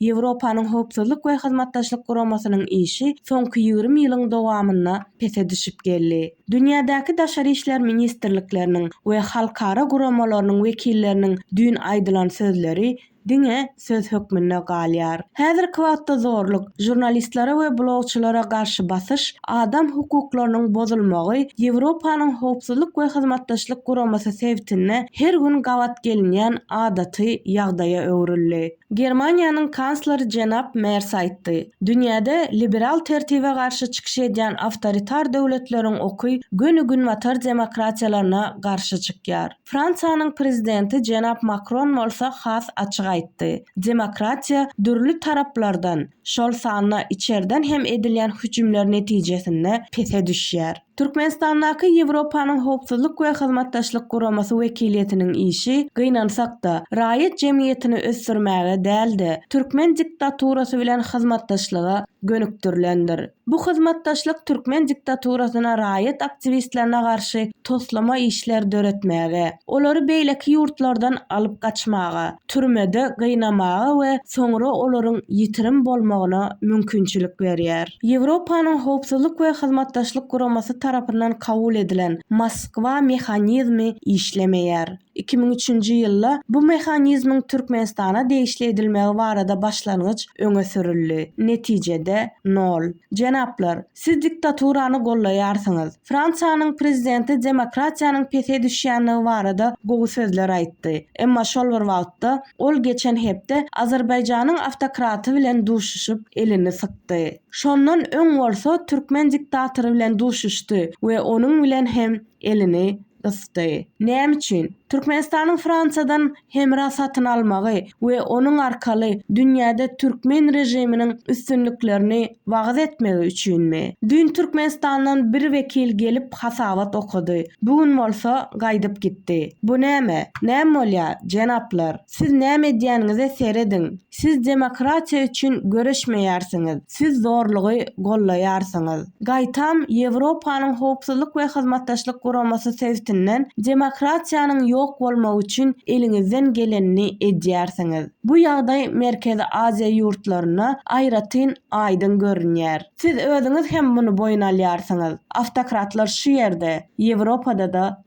Ýewropanyň Howpsuzlyk we Hyzmatdaşlyk Guramasynyň işi soňky ýigrimi ýylyň dowamynda pese düşüp geldi. Dünýädäki daşary işler ministrlikleriniň we halkara guramalarynyň wekilleriniň düýn aýdylan sözleri diňe söz hökmünde galýar. Häzirki wagtda zorluk, žurnalistlere we blogçylara garşy basyş, adam hukuklarynyň bozulmagy Ýewropanyň Howpsuzlyk we Hyzmatdaşlyk Guramasy sebitinde her gün gabat gelinýän adaty ýagdaýa öwrüldi. Germaniýanyň kansleri jenap Mers aýtdy. Dünýäde liberal tertibe garşy çykyş edýän awtoritar döwletleriň oky göni günbatar demokratiýalaryna garşy çykýar. Fransiýanyň prezidenti jenap Makron bolsa has açyk aýtdy. Demokratiýa dürli taraplardan, şol sanda içerden hem edilýän hüjümler netijesinde pese düşýär. Türkmenistandaky Ýewropanyň Howpsuzlyk we Hyzmatdaşlyk Guramasy wekiliýetiniň işi, gynansak-da, raýat jemgyýetini ösdürmäge däl-de, türkmen diktaturasy bilen hyzmatdaşlyga gönükdirilendir. Bu hyzmatdaşlyk türkmen diktaturasyna raýat aktiwistlerine garşy toslama işler döretmäge, Olary beýleki ýurtlardan alyp gaçmaga, türmede gynamaga we soňra olaryň ýitirim bolmagyna mümkinçilik berýär. Ýewropanyň Howpsuzlyk we Hyzmatdaşlyk Guramasy tarapyndan kabul edilen Moskwa mehanizmi işlemeýär. Iki müň üçünji ýylda bu mehanizmiň Türkmenistana degişli edilmegi barada başlangyç öňe sürüldi. Netijede, nol. Jenaplar! Siz diktaturany gollaýarsyňyz. Fransiýanyň prezidenti demokratiýanyň pese düşýändigi barada gowy sözler aýtdy. Emma şol bir wagtda, ol geçen hepde Azerbaýjanyň awtokraty bilen duşuşyp, elini sykdy. Şondan öň bolsa türkmen diktatory bilen duşuşdy we onuň bilen hem elini gysdy. Näme üçin? Türkmenistanyň Fransiýadan hemra satyn almagy we onuň arkaly dünýäde türkmen režiminiň üstünliklerini wagyz etmegi üçinmi? Düýn Türkmenistandan bir wekil gelip hasabat okady, bu gün bolsa gaýdyp gitdi. Bu näme? Näme bolýar, jenaplar? Siz näme edýäniňize serediň! Siz demokratiýa üçin göreşmeýärsiňiz, siz zorlugy gollaýarsyňyz. Gaýtam, Ýewropanyň Howpsuzlyk we Hyzmatdaşlyk Guramasy sebtinden demokratiýanyň ýok bolmagy üçin eliňizden gelenini edýärsiňiz. Bu ýagdaý Merkezi Aziýa ýurtlarynda aýratyn aýdyň görünýär. Siz özüňiz hem muny boýun alýarsyňyz. Awtokratlar şu ýerde, Ýewropada-da